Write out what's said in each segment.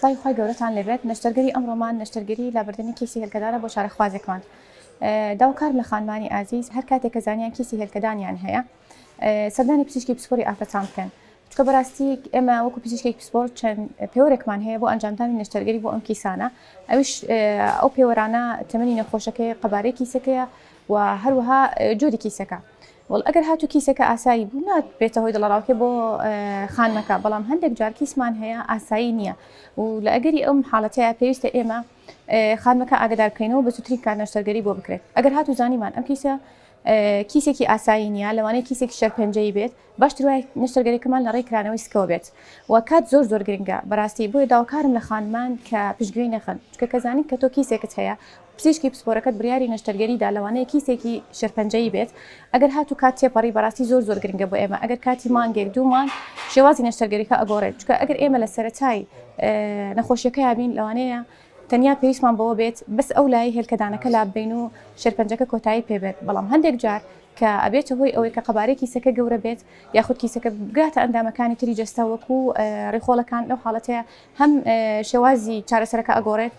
سڵاوی خوای گەورەتان لێبێت نەشتەرگەری ئەمڕۆمان نەشتەرگەری لابردنی کیسی هێلکەدانە بۆ چارەخوازێکمان داو کارم لە خانمانی ئازیز هەر کاتێک کە زانیان کیسی هێلکەدانیان هەیە سەردانی پزیشکی پسپۆری ئافرەتان بکەن چکە بەراستی ئێمە وەکو پزیشکێک پسپۆر چەند پێوەرێکمان هەیە بۆ ئەنجامدانی نەشتەرگەری بۆ ئەم کیسانە ئەوش ئەو پێوەرانە تەمەنی نەخۆشەکەی قەبارەی کیسەکەیە وە هەروەها جۆری کیسەکە وەڵ ئەگەر هاتو کیسەکە ئاسایی بوو نات بێتە هۆی دڵەڕاوکێ بۆ خانمەکە بەڵام هەندێک جار کیسمان هەیە ئاسایی نییە و لە ئەگەری ئەم حاڵەتەیە پێویستە ئێمە خانمەکە ئاگدار بکەینەوە بە سوترین کار نەشتەرگەری بۆ بکرێت ئەگەر هاتو زانیمان ئەم کیسە کیسێکی ئاسایی نییە لەوانەیە کیسێکی شەرپەنجەی بێت باشتر وایە نەشتەرگەریەکەمان لە ڕێی کرانەوەی سکەوە بێت و کات زۆر زۆر گرنگە بەڕاستی بۆیە داواکارم لە خانمان کە پشتگوێی نەخەن چکە کە زانین کە تۆ کیسێکت هەیە پزیشکی پسپۆرەکەت بریاری نەشتەرگەریدا لەوانەیە کیسێکی شێرپەنجەیی بێت ئەگەر هات و کات تێپەڕی بەڕاستی زۆر زۆر گرنگە بۆ ئێمە ئەگەر کاتی مانگێک دوو مانگ شێوازی نەشتەرگەریەکە ئەگۆڕێت چکە ئەگەر ئێمە لە سەرەتای نەخۆشیەکە یابین لەوانەیە تەنیا پێویستمان بەوە بێت بەس ئەو لایەی هێلکەدانەکە لاببەین و شێرپەنجەکە کۆتایی پێ بێت، بەڵام هەندێک جار کە ئەبێتە هۆی ئەوەی کە قەبارەی کیسەکە گەورە بێت یاخود کیسەکە بگاتە ئەندامەکانی تری جەستە وەکو ڕیخۆڵەکان لەو حاڵەتەیە هەم شێوازی چارەسەرەکە ئەگۆڕێت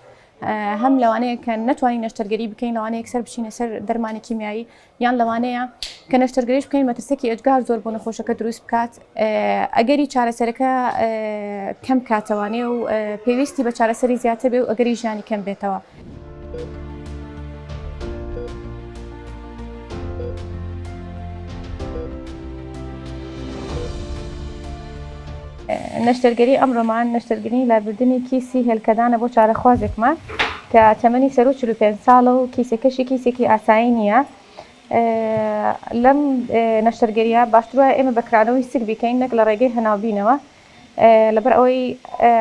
هەم لەوانەیە کە نەتوانین نەشتەرگەری بکەین لەوانەیە یەکسەر بچینە سەر دەرمانی کیمیایی یان لەوانەیە کە نەشتەرگەریش بکەین مەترسەکی ئێجگار زۆر بۆ نەخۆشەکە دروست بکات ئەگەری چارەسەرەکە کەم کاتەوانێ و پێویستی بە چارەسەری زیاتر بێ و ئەگەری ژیانی کەم بێتەوە. نەشتەرگەری ئەمڕۆمان نەشتەرگەری لابردنێکی سی هێلکەدانە بۆ چارەخوازێکمان کە تەمەنی سەروو چل و پێنج ساڵە و کیسەکەشی کیسێکی ئاسایی نییە. لەم نەشتەرگەرییە باشتر وایە ئێمە بە کرانەوەی سک بیکەین نەک لە ڕێگەی هەناوبینەوە لەبەر ئەوەی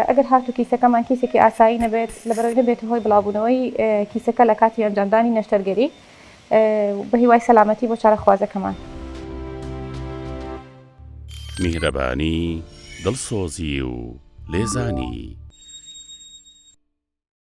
ئەگەر هاتوو کیسەکەمان کیسێکی ئاسایی نەبێت لەبەرئەوەی نەبێتە هۆی بڵاوبوونەوەی کیسەکە لە کاتی ئەنجامدانی نەشتەرگەری. بە هیوای سەلامەتی بۆ چارەخوازەکەمان. میهرەبانی، دڵسۆزی و لێزانی.